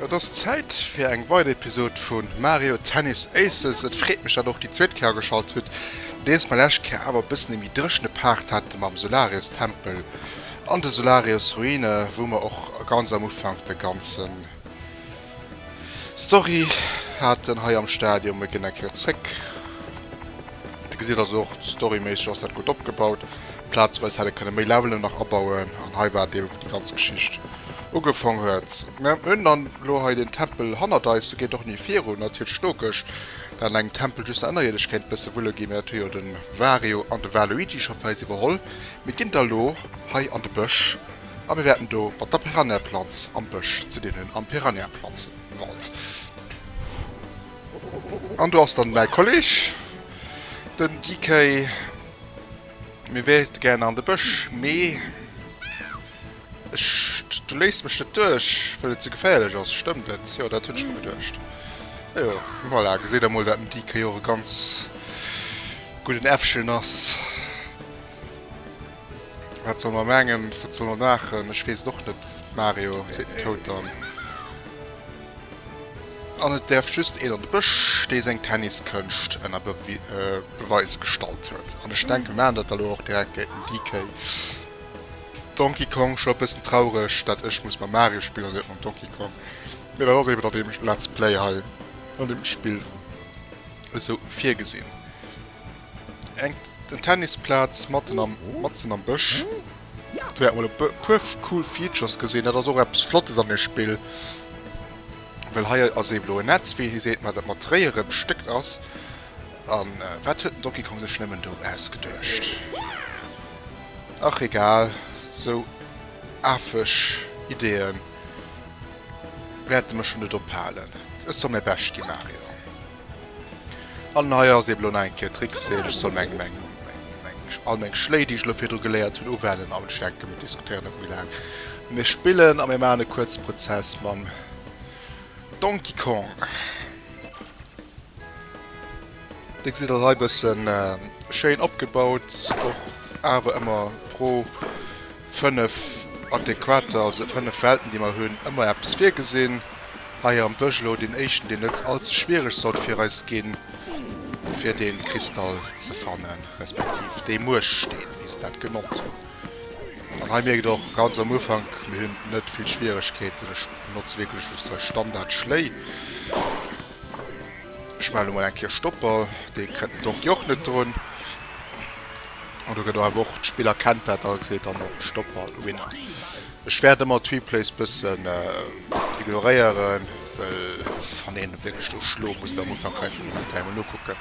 Et ass Zäit fir eng weider Episod vu Mario Tennis Aces. Et freet mech dat och déi zweet Kéier ageschalt hutt. Nodeems mer lescht Kéier awer e bëssen e méi dréchene Part hate mam Solarius Tempel an de Solarius Ruine, wou mer och ganz am Ufank de ganze Story haten hei am Stadium. Mir ginn eng Kéier zréck. Dir gesitt also och storyméisseg ass dat gutt opgebaut. Plazeweis hätt ee kënne méi Levelen nach abauen an hei war et eebe wou déi ganz Geschicht, Ugefong huet. Mä mir hunn dann elo hei deen Tempel hannert eis, do geet och ni virun. Ass hiert Schnokeg, dat an engem Tempel just der Ënnerierdesch kéint e bësse wulle ginn, mä dat hu jo de Wario an de Waluigi scho fir eis iwwerholl. Mir ginn da elo hei an de Bësch a mir wäerten do mat der Piranhaplanz am Bësch ze dinn hunn, am Piranhaplanzewald. An do ass dann mäi Kolleg, den DK. Mir wäerte gären an de Bësch, mee. Ech, du léiss mech net duerch, well et ze geféierlech ass, stëmmt et? Jo, dat hunn ech mir geduecht. Jo, voilà, geséit der mol, dat den DK jo och e ganz gudden Äffchen ass. Wat soll mer mengen, wat soll mer maachen? Ech weess et och net, Mario, seet den Toad dann. An et däerf just een an de Bësch, dee seng Tenniskënscht ënner Beweis gestallt huet. An ech denken, mer maachen dat da lo och direkt, gehéiert dem DK. Donkey Kong, scho bessen traureg dat ech muss mam Mario spillen an net mam Donkey Kong, mee dat ass eben an deem Let's Play hei an deem Spill esou virgesin. Eng en Tennis Platz matten am matzen am Bësch, do wärt mol e puer cool Features gesin, dat ass och eppes flottes an deem Spill, well hei ass eben elo e Netz wéi een seet, mä dat mat Réiere bestéckt ass, an wat huet den Donkey Kong sech nemmen do ausgeduecht? Ach egal, sou afeg Ideeë wäerte mech jo net ophalen. Ech soll mäi Bescht gi, Mario. An hei ass eben elo nach eng Kéier d'Réckseelt, ech soll all meng Schléi, déi ech elo virdru geléiert hunn, uwenden. A ech denken, mir diskutéieren net méi laang. Mir spillen a mir maachen e kuerze Prozess mam Donkey Kong. Dir gesitt dat hei bëssen schéin opgebaut, och awer ëmmer pro 5 adäquater, also 5 Welten déi mer hunn, ëmmer eppes virgesinn. Hei am Bësch elo deen éischten deen net all ze schwiereg sollt fir eis ginn, fir dee Kristall ze fannen, respektiv dee Mueschsteen wéi se dat genannt hunn. An hei mierkt och ganz am Ufank, mir hunn net vill Schwieregkeeten, ech benotze wierklech just hei Standard Schléi. Ech maachen elo mol eng Kéier Stopp, well dee kënnt den Donkey och net drun. An do gëtt och awer och, d'Spill erkennt dat a seet dann och Stopp a Winner. Ech wäert ëmmer d'Replays bëssen ignoréieren, well wann een wierklech do schlo muss am Ufank kann een vun den Dateien emol nokucken.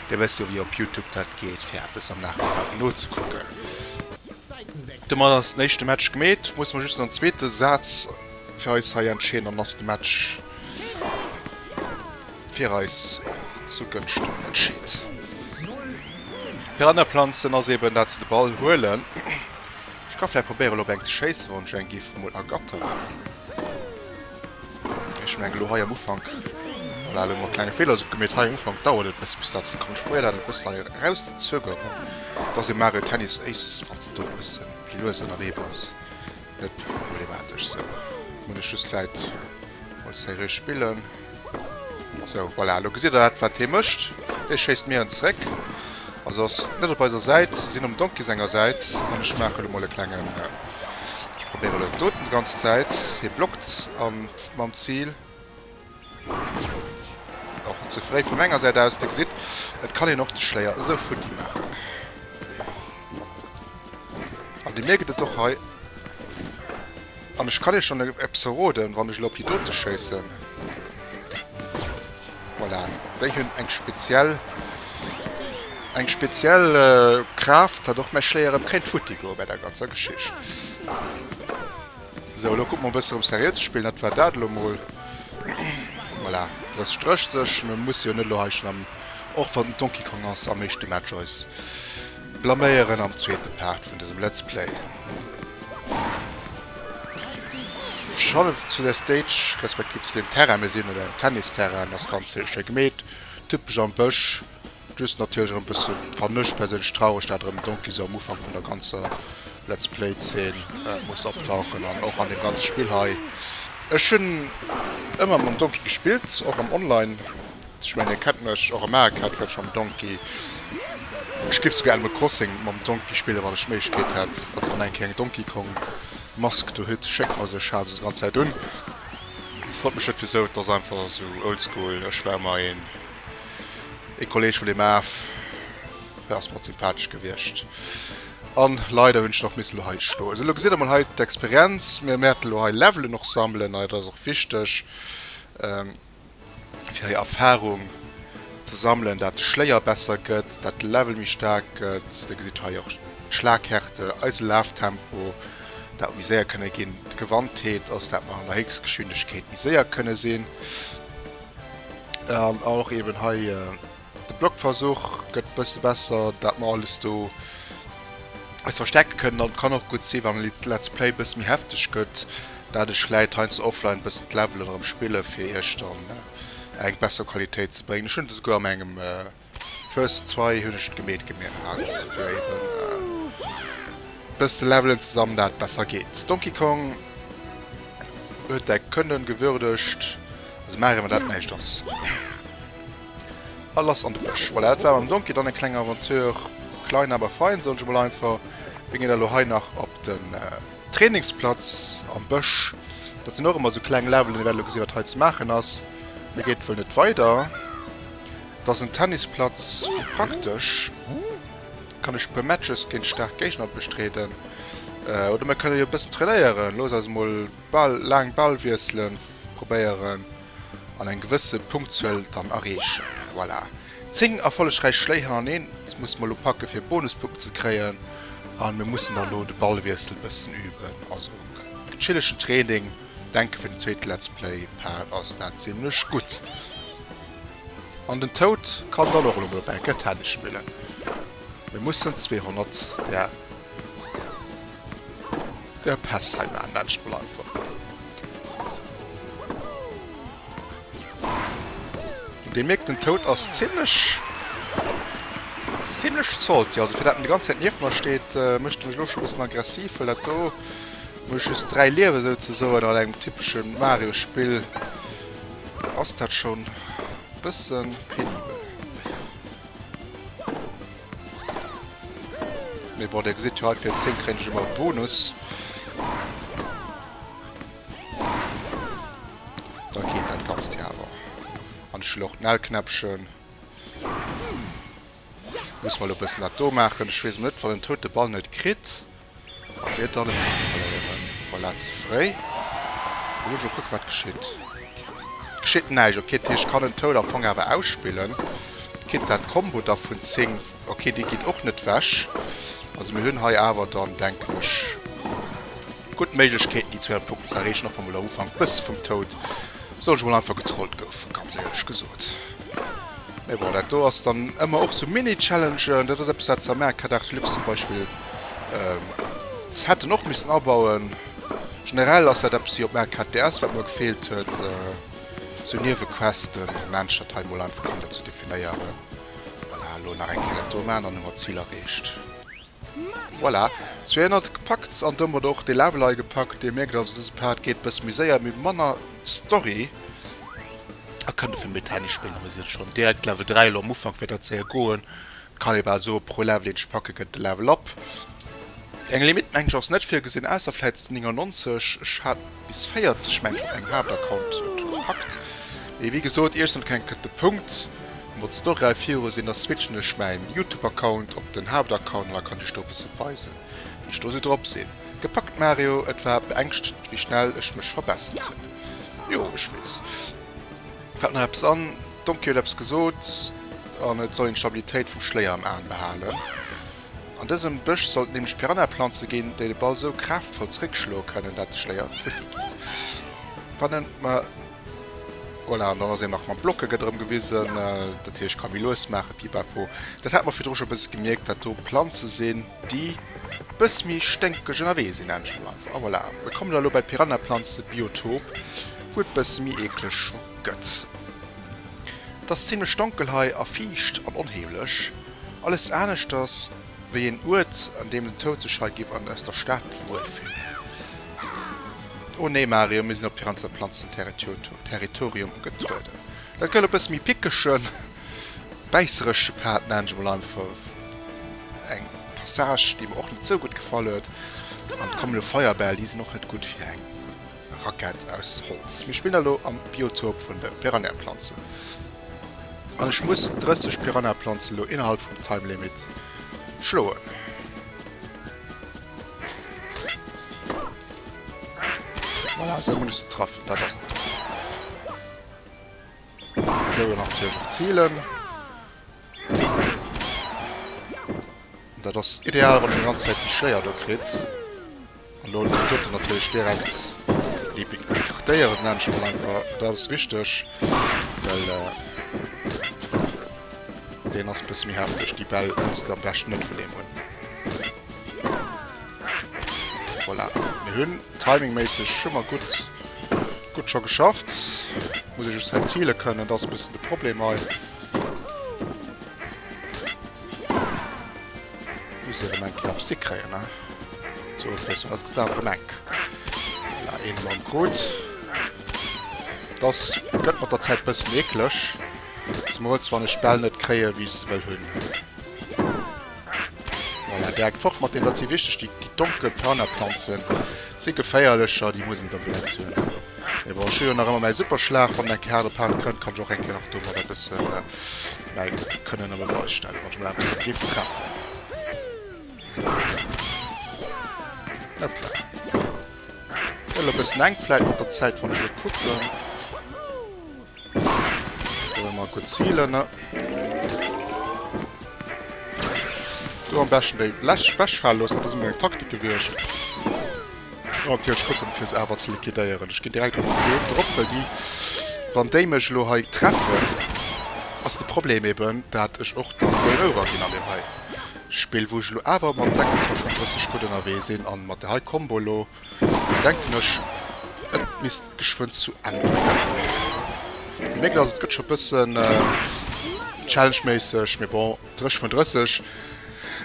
Dir wësst jo wéi op Youtube dat geet fir eppes am Nachhinein nozekucken. Domat ass den éischte Match gemeet. Muss mer just an zweete Saz fir eis hei entscheeden, an dann ass de Match. fir eis zu Gënschten entscheet. Fir aner Planzen ass eben dat se de Ball huelen. Ech ka vläicht probéieren op eng ze schéissen, wann ech eng giff mol ergatteren. Ech mengen elo hei am Ufank, voilà, elo hu mer e klenge Feeler gemeet, hei am Ufank dauert et e bësse bis dat se kommen. Ech probéieren dat e bësse hei eraus ze zögeren, dass ee Mario Tennis Aces, falls en do e bësse méi lues ënnerwee ass, Net problematesch, sou muss ech just vläit mol seriö spillen. Sou, voilà, lo gesitt der dat wat hie mécht, hie schéisst mir en zeréck, also ass net op eiser Säit, sinn um Donkey senger Säit an ech maache lo mol e klengen, ech probéiere lo en Totem ganze Zäit, hie blockt an mam Zil, Och ze fréi vu menger Säit aus. Dir gesitt, et kann een och de Schléier esou futti maachen. An Dir mierkt et och hei. An ech kann Iech schonn eppes verroden, wann ech elo op déi dote schéissen. Voilà, déi hunn eng speziell, eng speziell Kraaft, datt och mäi Schléier erëm kéint futti goe bei der ganzer Geschicht. Sou, elo kucke mer e bëssen erëm seriö ze spillen. Dat war dat elo mol. Voilà, d'Rëss drécht sech. Mir musse jo net elo hei schonn am, och wann den Donkey Kong ass, am éischte Match eis blaméieren am zweete Part vun dësem Let's Play. Schonn elo zu där Stage, respektiv zu deem Terrain, mir sinn un engem Tennisterrain, ass ganz schéi gemeet, typesch am Bësch. Just natierlech erëm bësse fannen ech perséinlech traureg dat erëm Donkey esou am Ufank vun der ganzer Let's Play Zeen muss optauchen an och an dem ganze Spill hei. Ech hunn ëmmer mam Donkey gespillt och am Online. Ech mengen dir kennt mech, och am Areca hat ech vläicht mam Donkey, ech giff souguer Animal Crossing mam Donkey spillen wann ech d'Méiglechkeet hätt. Also wann eng Kéier eng Donkey Kong Mask do hutt schéckt mer se, ech halen se sou ganz Zäit un. Freet mech net wisou, et ass einfach sou oldschool, ech war ëmmer een. Ee Kolleg vun deem Aaf, hie ass mer sympathesch gewiescht. An leider hunn ech elo nach missen hei stoen. Esou, elo gesitt Der mol hei d'Experienz. Mir wäerten elo hei Levelen och sammelen, an et ass och wichteg, fir hei Erfahrung ze sammelen, dat de Schléier besser gëtt, dat de Level méi staark gëtt. Dir gesitt hei och d'Schlaghärte, eise Laftempo, dat mer méi séier kënne ginn, d'Gewandtheet, also dat mer an der Héchstgeschwindegkeet méi séier kënne sinn. An och eben hei de Blockversuch gëtt e bësse besser, dat mer alles do eis verstecke kënnen. An et kann och gutt sinn, wann de Let's Play e bësse méi hefteg gëtt, dat ech vläit heiansdo offline e bëssen d'Levelen erëm spille fir iech dann eng besser Qualitéit ze bréngen. Ech hunn et esouguer a mengem. First Try hun ech gemeet gemeet hat fir eben bes ze levelen zesammen dat besser geet. Donkey Kong huet däi Können gewürdegt, also maach emmer dat näischt ass a lass an de Bësch. Voilà dat war mam Donkey dann eng kleng Aventure, klein aber fein soen ech mol einfach. Mir gin elo hei nach op den Trainingsplatz am Bësch, dat sin och emmer sou kleng Levelen, mir wärten elo gesin wat hei ze maachen ass. Hei geet wuel net weider. 't ass en Tennisplatz vu praktesch, kann ech puer Matches géint staark Géigner bestreeden oder mir kënne jo e bëssen trainéieren. Looss eis mol d'Bal, laang Balwiessele probéieren an eng gewësse Punktzuel dann erreechen. Voilà, 10 erfollegräich Schléi hannereen, 't muss mer elo packe fir Bonuspunkten ze kréien a mir mussen dann elo de Ballwiessel e bëssen üben. Also chilligen Training, denke fir den zweete Let's Play Part ass dat zimlech gutt. An den Toad kann dann och elo mol op eng Kéier Tennis spillen. Mir mussen 200 der der Päss hei maachen, laanscht mol einfach. An dir mierkt, den Toad ass zimlech zimlech salty. Also fir dat en déi ganz Zäit nieft mer steet, mécht e mech elo scho bëssen aggressiv, well dat do, wou ech just 3 Liewe souzesoen an engem typeschen Mario-Spill, Da ass dat schon bëssen penibel. Mee bon, dir gesitt jo hei, fir 10 kréien ech ëmmer e Bonus. Da geet dat Ganzt jo awer. An ech hunn och d'Nl-Knäppchen. Muss mer elo e bëssen dat do maachen. Ech weess emol net, wann en d'Toute Ball net kritt. A wier dann e Punkt verléieren. Voilà, ze fréi. Elo muss ech och kucken, wat geschitt. Et geschitt näischt. Ok, dat heescht, ech kann en Toad am Fong awer ausspillen. Kritt dat d'Combo da vun 10. Ok, déi geet och net ewech. Also mir hunn hei awer dann, denken ech, gutt Méiglechkeeten, déi 200 Punkten ze erreechen, och wa mol am Ufank e bësse vum Toad Soll ech mol einfach getrollt goufen, ganz éierlech gesot. Mee bon, dat do ass dann ëmmer och sou Mini-Challengen, dat ass eppes wat Zamac hat Art Deluxe zum Beispill hätten och missen abauen. Generell ass dat eppes hir op Mac hat DS wat mer gefeelt huet, sou Niewequesten, ech mengen dat hei mol einfach kënnt dat ze definéieren. Voilà, elo nach eng Kéier dat do maachen, dann hu mer d'Zil erreecht. Voilà, 200 gepackt an domat och de Level hei gepackt. Dir mierkt also, dëse Part geet e bësse méi séier, mee manner Story a kënnt dofir méi Tennis spillen. A mir si schonn direkt Level 3, elo am Ufank wäert dat séier goen. Et kann ee bal soen, pro Level, deen ech packe gëtt e Level up. Eng Limitt mengen ech ass net virgesinn, ausser vläicht 99. Ech hat. Bis 40 Menschen op engem Haaptaccount gepackt. Mee wéi gesoot iech soll keng kënnt de Punkt mat Story hei viru sin da switchen ech mäin Youtube Account op den Haaptaccount an da kann ech do bessen weisen wéi ech do sou drop sin. Gepackt Mario, et war beängschtend wéi schnell ech mech verbessert hun. Jo ech wees. Fällt nach eppes an? Donkey huet eppes gesoot an et soll een d'Stabilitéit vum Schléier am Aen behalen. An dësem Bësch sollt nämlech Piranhaplanze ginn, déi de Ball sou kraaftvoll zréckschloe kënnen, dat de Schléier vu si geet. Wann en ma. Voilà, an dann ass een nach mam Block gëtt erëm gewisen, dat heescht ka méi lues maachen, pipapo. Dat hat mer virdru scho e bësse gemierkt, dat do Planze sinn, déi e bësse méi sténkeg ënnerwee sinn anscheinend. A voilà, mir kommen da elo bei d'Piranhaplanzebiotop, wou et e bësse méi eekleg scho gëtt. Et ass zimmlech donkel hei a fiicht an onheemlech. Alles aneschters wéi een Uert, an deem den Toud sech hei giff an aus der Stad wuel fillen. Oh nee, Mario, mir sinn op Pirandelop Planzenterritorium getrueden. Dat gëllt e bësse méi pickege, bäisseresche Pad, nennen ech emol einfach. Eng Passage, déi mer och net sou gutt gefall huet. An d'Kommelo Feuerbäll, déi sinn och net gutt fir eng Rackett aus Holz. Mir spillen elo am Biotop vun de Piranhaplanzen an ech muss 30 Piranhaplanzen elo innerhalb vum Time Limit schloen. Voilà, esou hunn ech se traff. Dat ass et. Esou elo natierlech och zielen. Dat ass ideal, wann een déi ganz Zäit déi Schléier do kritt. An do kann d'Auto natierlech direkt écartéieren, dat nennt ech mol einfach. Dat ass wichteg, well deen ass e bësse méi hefteg, déi Bäll, wou se am beschten net Problem hunn. Voilà, mir hunn timingméisseg hu mer gutt, gutt scho geschafft. Muss ee just hei zile kënnen, dat ass e bëssen de Problem hei. Muss ierem enk nach Stick kréien ne sou fir sou ass getan dem enk voilà een mam krut dass gëtt mat der Zäit bëssen eekleg zemools wann ech d'Bäll net kréie wéi ech se wëll hunn voilà direkt fort mat deem dat si wichteg déi déi donkel Piranhaplanzen si geféierlecher déi muss een da benotzt hunn mee bon ech hu jo nach ëmmer mäi Superschlag wann enk haart op haart kënnt kann ech och eng Kéier nach domadder bëssen Mä ech kann en op e Wall stellen, wann ech mol eppes dogéif gefaalen. Sou, hoppla. Hoppla. Gëtt elo e bëssen enk, vläit mat der Zäit, wann ech elo kucken. Do hu mer e kuerz Healen. Do am beschten déi Läch wechfale loossen, dat ass emol eng Taktik gewiescht. Ok ech kucken fir se awer ze liquidéieren. Ech ginn direkt op den Deen drop well déi wann déi mech elo hei treffen ass de Problem eben dat ech och dann Game over ginn an deem hei Spill wou ech elo awer mat 26 mat 30 gutt ënnerwee sinn an mat der hei Combo elo denken ech et misst geschwënn zu Enn bréngen. Dir mierkt also et gëtt scho bëssen Challenge méisseg mee bon 30 vun 30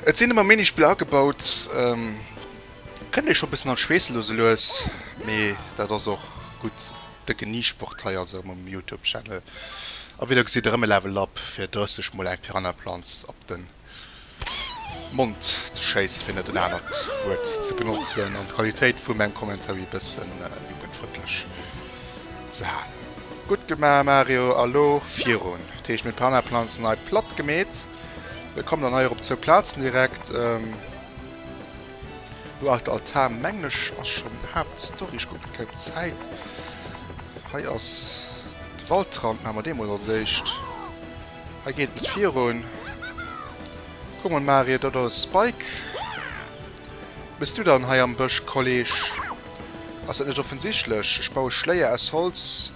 et sinn ëmmer Minispiller agebaut. Kënnt ee scho bëssen an d'Schweess lo sou lues, mee dat ass och gutt. De Geniesport hei also erëm um Youtube Channel a wéi der gesitt erëm e Level Up fir 30 mol eng Piranha Planz op den Mond ze schéissen, fir net en anert Wuert ze benotzen an d'Qualitéit vu mengem Commentary bëssen jugendfrëndlech ze halen. Gutt gema Mario, a lo virun. Dat heescht mir hunn d'Piranha Planz nei platt gemeet. Mir kommen dann hei erop, zwou Platzen direkt. Hu alt Altar menglech ass schon Haapt Story, ech kucken kei op Zäit. Hei ass de Waldrand maache mer deemools als éischt. Hei geet et net virun. Kuck mol Marie do ass Spike. Bis du dann hei am Bësch Kolleg? Ass dat net offensichtlech? Ech baue Schléier aus Holz.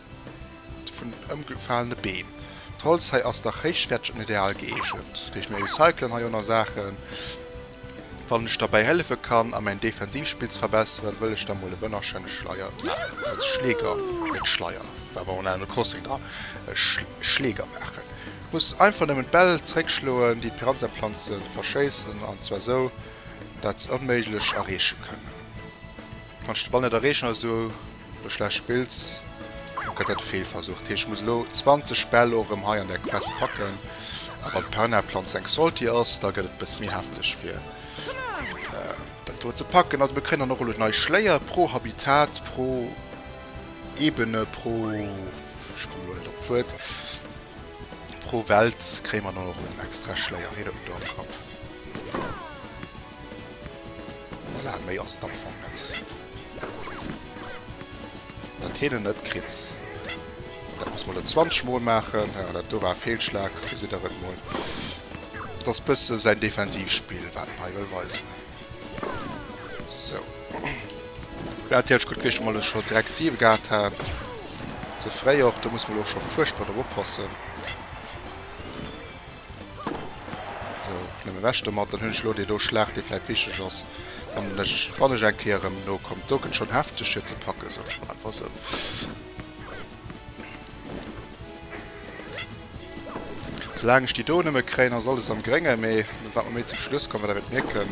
vun den ëmgefalene Beem. D'Holz hei ass dach héichwäerteg an ideal gëeegent. Géif mir recyclen hei oner Saachen? Wann ech derbäi hëllefe kann a mäin Defensivspill ze verbesseren, wëll ech da mol e wënnerschéine Schleier maachen. Als Schleeger, net Schleier, war bei Animal Crossing dran, e Schleeger maachen. Ech muss einfach nëmmen d'Bäll zeréckschloen, déi d'Piranha-Planze verschéissen, an zwar esou, dat se onméiglech erreeche kënnen. Wann ech de Ball net erreechen, also Wann du schlecht spills, da gëtt dat e Feelversuch. Dat heescht, ech muss elo 20 Bäll och erëm hei an där Quest packen. A wann d'Perna-Planz eng Salty ass, da gëtt et e bësse méi hefteg, fir dat do ze packen. Also mir kréien dann och elo nei Schléier pro Habitat, pro Ebene, pro, ech komme elo net op d'Wuert, pro Welt kréie mer dann och elo extra Schléier. Hiert et mol do am Kapp. Voilà, méi ass et am Fong net. Dat heen en net kritt. Dat muss mer lo 20 mol maachen. Jo, dat do war e Feelschlag, gesitt der et mol. Dat ass bësse säin Defensivspill, wat en hei wëll weisen. Sou. Wär natierlech gutt gewiescht, wa mer lo scho direkt 7 gehat hätten. Ze fréi och, do muss mer lo scho fuerchtbar drop oppassen. Sou, nëmme wech domat, dann hunn ech elo déi do Schlaach, déi vläit wichteg ass, an ech, wann ech eng Kéier erëm no kommen. Do gëtt schonn hefteg fir ze packen, soen ech mol einfach sou. Soulaang ech déi do nëmme kréien, ass alles am Gréngen, mee wat mer méi zum Schluss kommen, da wäert mierken,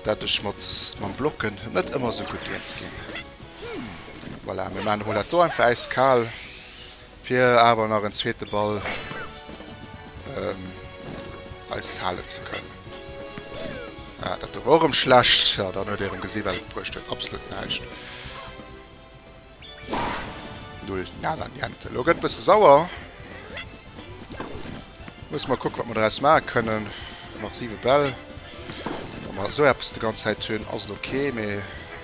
dat ech mat, mam Blocken net ëmmer sou gutt eens ginn. Voilà, mir maachen emol dat do einfach äiskal. Fir awer nach en zweete Ball eis halen ze kënnen. Ah, dat do war och erëm schlecht. Jo, dann huet ee erëm gesi wat et bruecht huet. Absolut näischt. Null, nada, niente. Elo gëtt e bësse sauer. Musse mer kucken, wat mer doraus maache kënnen. Nach siwe Bäll. Wa mer esou eppes de ganz Zäit hunn, ass et ok, mee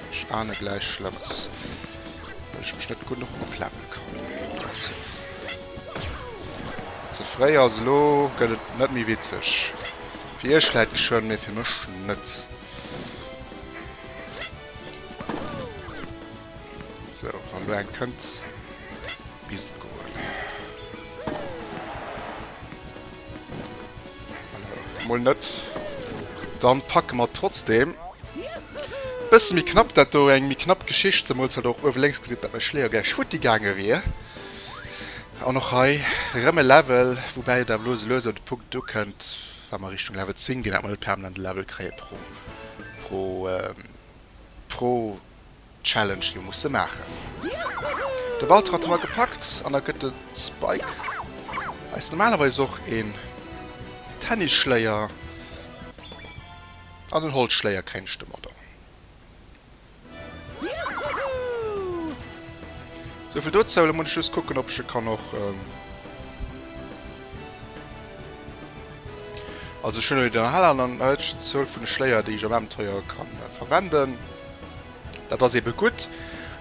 ech ahne gläich Schlëmmes. Well ech mech net genuch oplevele kann. Ze fréi ass. Elo gëtt et net méi witzeg. Fir iech vläit geschwënn, mee fir mech net. Sou, wann elo eng kënnt. Bis goen. Mol net. Dann packe mer trotzdem. Bësse méi knapp dat do, eng méi knapp Geschicht, zemol wat och uewe lénks gesitt, datt mäi Schléier gläich futti gaange wier. An och hei rëm e Level, woubäi et awer elo esou lues an de Punkt do kënnt, wa mer Richtung Level 10 ginn, datt mer net permanent e Level kréie pro pro pro Challenge jo musse maachen. De Walter hat hei gepackt an da gëtt de Spike eis normalerweis och een Tennisschléier an en Holzschléier kréinsch de mat. Souvill dozou, elo muss ech just kucken ob ech e kann och, also ech hunn elo déi normal an dann huet ech d'Zuel vun de Schléier déi ech am Abenteuer ka verwenden. Dat ass eben gudd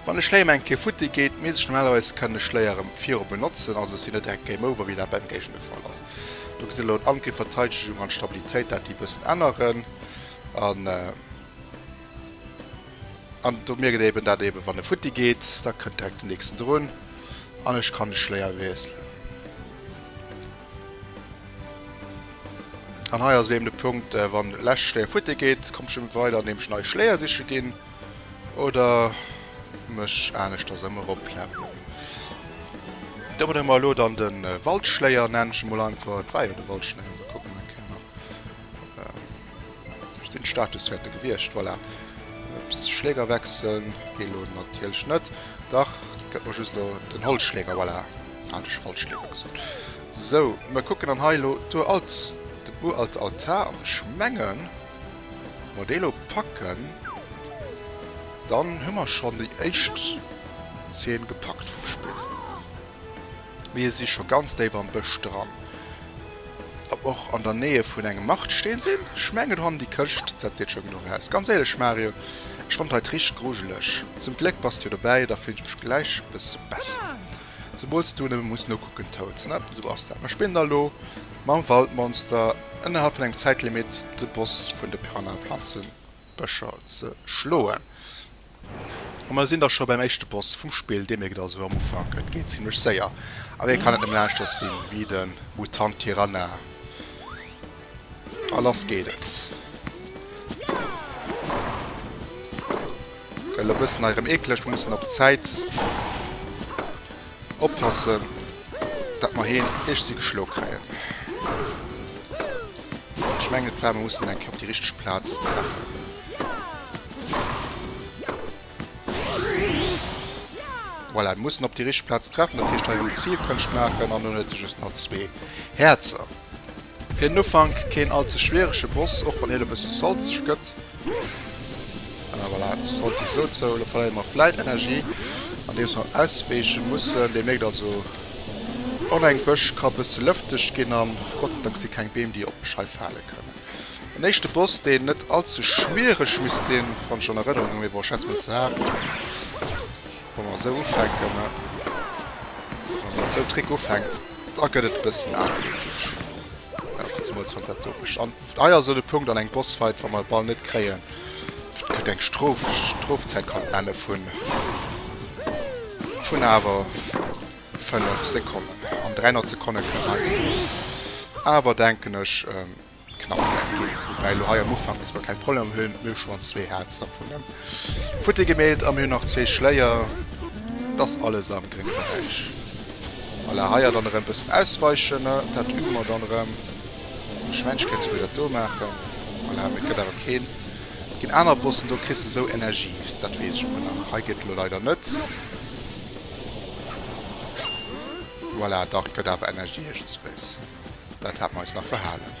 wann e Schléier mei eng Kéier futti geet, mee sech normalerweis kann e Schléier rem viru benotzen, also ech sin net direkt Game Over wéi dat beim Géigner de Fall ass. Do gesin elo Angriff, Verteidegung an Stabilitéit dat déi bëssen änneren an an do mierkt een eben dat eben wann e futti geet da kënnt direkt den nächsten drun an ech kann de Schléier wiesselen. An hei ass eben de Punkt, wann lescht Schléier futti geet, kommt ech eben weider an deem ech nei Schléier siche ginn oder mech aneschters ëm erop pläppelen. Do benumme mer elo dann de Waldschléier, nennen ech e mol einfach. Et war jo de Waldschléier, da kucke mer eng Kéier nach. Ech sinn Status wäerte gewiescht. Voilà. Ups, Schläger wechseln geet elo natierlech net. Dach, et gëtt mer just elo den Holzschläger. Voilà, hat ech falsch Schläger gesot. Sou, mir kucken dann hei elo d'uralt, den uralte Altar an. Ech mengen, wa mer dee elo packen, dann hu mer schonn déi éischt Zeen gepackt vum Spill. Mir si scho ganz déif am Bësch dran. Ob mer och an der Nähe vun engem Martstee sinn? Ech mengen hon déi Këscht dat seet scho genuch aus. Ganz éierlech Mario, ech fand hei richt grujeleg. Zum Gléck bass de jo dobäi, da fillen ech mech gläich e bësse besser. Zumools du nëmme muss nokucken. Tout, na esou ass dat. Mer spillen da lo mam Waldmonster ënnerhalb vun engem Zäitlimit de Boss vun de Piranhaplanzenbëscher ze schloen. A mer sinn da scho beim éischte Boss vum Spill. Dir mierkt also am Ufank, et geet zimmlech séier. A wéi kann et nëmmen aneschters sinn wéi de Mutant Tiranna? A lass geet et. Gëtt elo e bëssen hei erëm eekleg. Mir mussen op d'Zäit oppassen, datt mer hien iechsi geschlo kréien. Ech mengen et war, mir mussen eng Kéier op déi richteg Plaz treffen. Voilà, et muss en op déi richteg Plaz treffen, dat heescht hei eng Zilkonscht maachen an dunn huet e just nach zwee Häerzer. Fir den Ufank keen all ze schwierege Boss, och wann hien e bësse salzeg gëtt. Ah, voilà, et ass relativ esou zou, elo verléiere mer vläit Energie, andeems mer auswäiche mussen. Dir mierkt also, och eng Bësch ka e bësse lëfteg ginn, a Gott sei Dank si keng Beem, déi op mech hei fale kënnen. En éischte Boss, deen net all ze schwiereg misst sinn, wann ech an Erënnerung hunn. Mee bon, ech schätze mol, ze haart, wa mer esou ufänken. Mä wa mer mat esou Trick ufänkt, da gëtt et e bëssen aarm, wierklech. Jo, zemools wann dat do mécht. An hei ass elo de Punkt an engem Bossfight, wa mer e Ball net kréien, kritt eng Strof, Strofzäit kann d'Männe vun, vun awer. 5 Sekonnen, jo, an 300 Sekonne kënne heiansdo awer, denken ech, knapp wäert ginn. Woubäi elo hei am Ufank bis mer keng Problemer méi hunn, mir hu schonn zwee Häerzer vun dem futti gemeet a mir hunn nach zwee Schléier. Et ass alles am grénge Beräich. Voilà, hei dann erëm e bëssen ausweichen, dat übe mer dann erëm. Ech mengen, ech kéint souguer dat do maachen. Voilà, mee et gëtt awer keen. Et ginn aner Bossen, do kriss de esou Energie, dat weess ech emol nach. Hei geet et elo leider net. Voilà, dach, et gëtt awer Energie iergendswéis. Dat hate mer eis nach verhalen.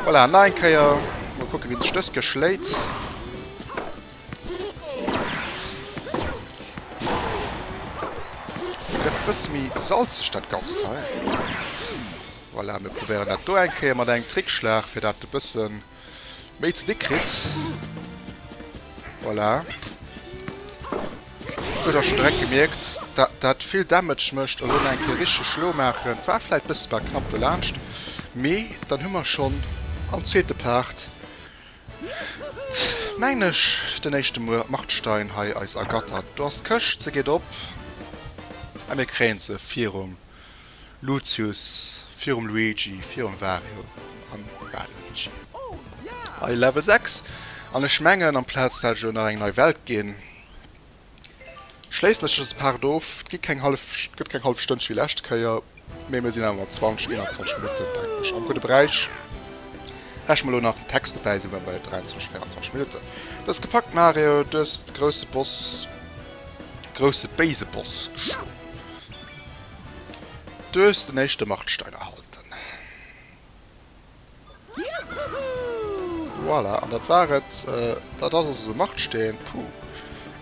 Voilà, nach eng Kéier. Mol kucken, wien sech dës Kéier schléit. Gëtt e bësse méi salzeg, dat Ganzt hei. Voilà, mir probéieren dat do eng Kéier mat engem Trickschlag, fir dat e bëssen. Méi ze déck kritt. Voilà. Huet der schonn direkt gemierkt, dat dat vill Damage mécht. Elo nach eng Kéier richteg schlo maachen. War vläicht bësse bei knapp dolaanscht. Mee dann hu mer schonn am zweete Part, mengen ech, den éischte Markstein hei eis ergattert. Do ass d'Këscht. Se geet op. A mir kréien se virum. Lucius, virum Luigi, virum Wario an Waluigi. Hei Level 6 an ech mengen amplaz dat et elo nach eng nei Welt ginn, schléissen ech dës Part of. Et gi keng hallef, gëtt keng hallef Stënnche wéi lescht Kéier, mee mir sinn awer mat 20, 21 Minutten denken ech am gudde Beräich. Rechne mer elo nach den Text dobäi, si mer bei 23, 24 Minutten. Dëst gepackt Mario, dëst grousse Boss, grousse béise Boss geschloen. Du hues den éischte Markstein erhalten. Voilà, an dat war et. Dat ass also de Marksteen. Puh.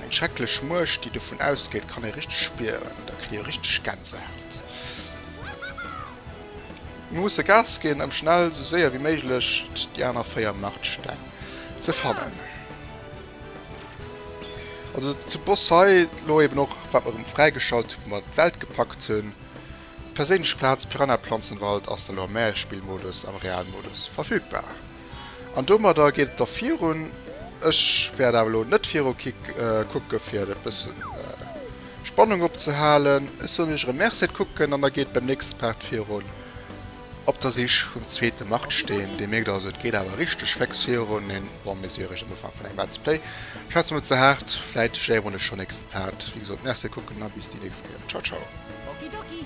Eng schrecklech Muecht, déi dovun ausgeet, kann ee richteg spieren. Da kritt ee richteg Gänsehaut. Mir musse Gas ginn, ëm schnell, esou séier wéi méiglech déi aner véier Markstein ze fannen. Also zu Boss hei lo eben och wat mer rem fräigeschalt hu wou mer d'Welt gepackt hunn. Perséinlech Plaz Piranha Planzenwald ass da lo am Märespillmodus am Realmodus verfügbar. An domadder geet et da virun. Ech wäert awer lo net viru kucke fir e bëssen Spannung opzehalen. Ech soen iech erem Merci fir d'Kucken an da geet beim nächste Part virun. Op der Sich vum zweete Martsteen. Dir mierkt also, et geet awer richteg féx virun. Een bon mesuregen Ufank vun engem Let's Play. Schwätze mol ze haart, vläit léieren ech schonn nächste Part. Wéi gesot, Merci a kucken a bis déi nächst Kéier. Ciao ciao. Okidoki.